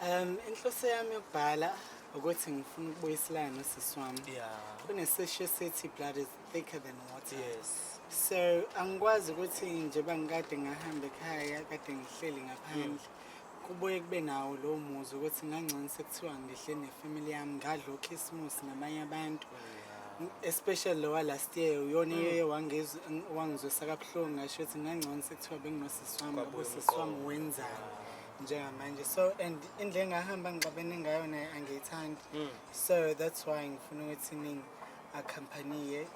Um inhloso yami yokubhala ukuthi ngifuna ukubuyiselana nosisi wami. Yeah. Kunesisho esithi blood is thicker than water. Yes. So angikwazi ukuthi nje bangikade ngahamba ekhaya kade ngihleli ngaphandle. Mm. Kubuye kube nawo lowo muzi ukuthi ngangcono sekuthiwa ngihle nefamily yami ngadla okhisimusi namanye abantu. Mm. especially lowa last year uyona mm. iye wangizwisa kabuhlungu ngasho ukuthi ngangcono sekuthiwa benginosisi wami ngoba usisi wami wenzani njengamanje so and indlela engahamba ngixabene ngayo naye angiyithandi hmm. so that's why ngifuna ukuthi ningi accompaniye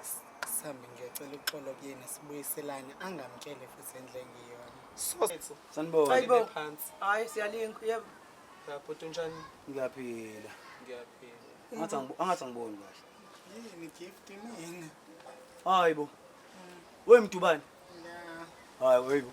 sihambe ngiyocela uxolo kuyena sibuyiselane angamtshele futhi endle ngiyona sanibonaayibo hayi siyalinga yebo bhuti unjani ngiyaphila ngiyaphila angathi angiboni kahle yini gift mina hayi bo wemdubane hayi webo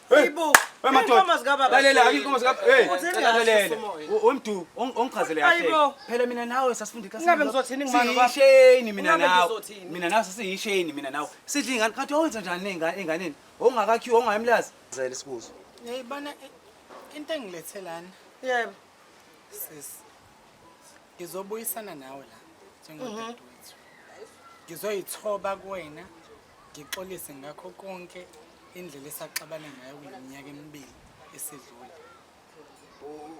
umdu ongichazele phela mina nawe sasifundikasisheni mina nawe mina nawe sasiyisheni mina nawe sidla ingane kanti owenza njani enganeni ongakakhiwa ongayimlazi zele sibuzo yayibona eh, into engilethelana yebo sis ngizobuyisana nawe la njengodadewethu mhm. ngizoyithoba kuwena Ngixolise ngakho konke indlela esaxabane ngayo kule minyaka emibili esidlule.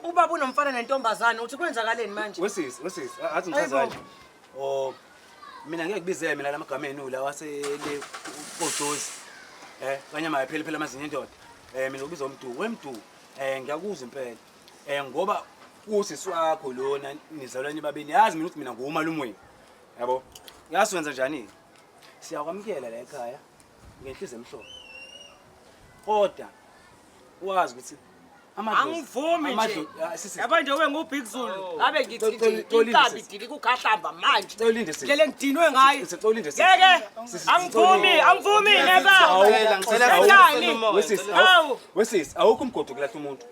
Ubaba unomfana nentombazane uthi kwenzakaleni manje? Wesisi, wesisi, a- athi ngichaza Ayibo. kanje. Oh, mina ngeke kubizele mina lamagama enu lawa asele kojozi. Eh, kanye maye phela phela amazinyo indoda. Eh, mina ubiza umdu, wemdu. Eh, ngiyakuzwa impela. Eh, ngoba usisi wakho lona nizalwane babini. Yazi mina ukuthi mina ngumalume wenu. Yabo? Yaswenza njani? siyakwamukela la ekhaya ngenhliziyo emhlophe kodwa wazi ukuthi angivumi nje yaba nje wengubig zulu oh. ngabe ngithiinkabi dili kukhahlamba manje lele ngidinwe ngayo ngeke angivumi angivumi nebawesisi awukho umgodo kulahla umuntu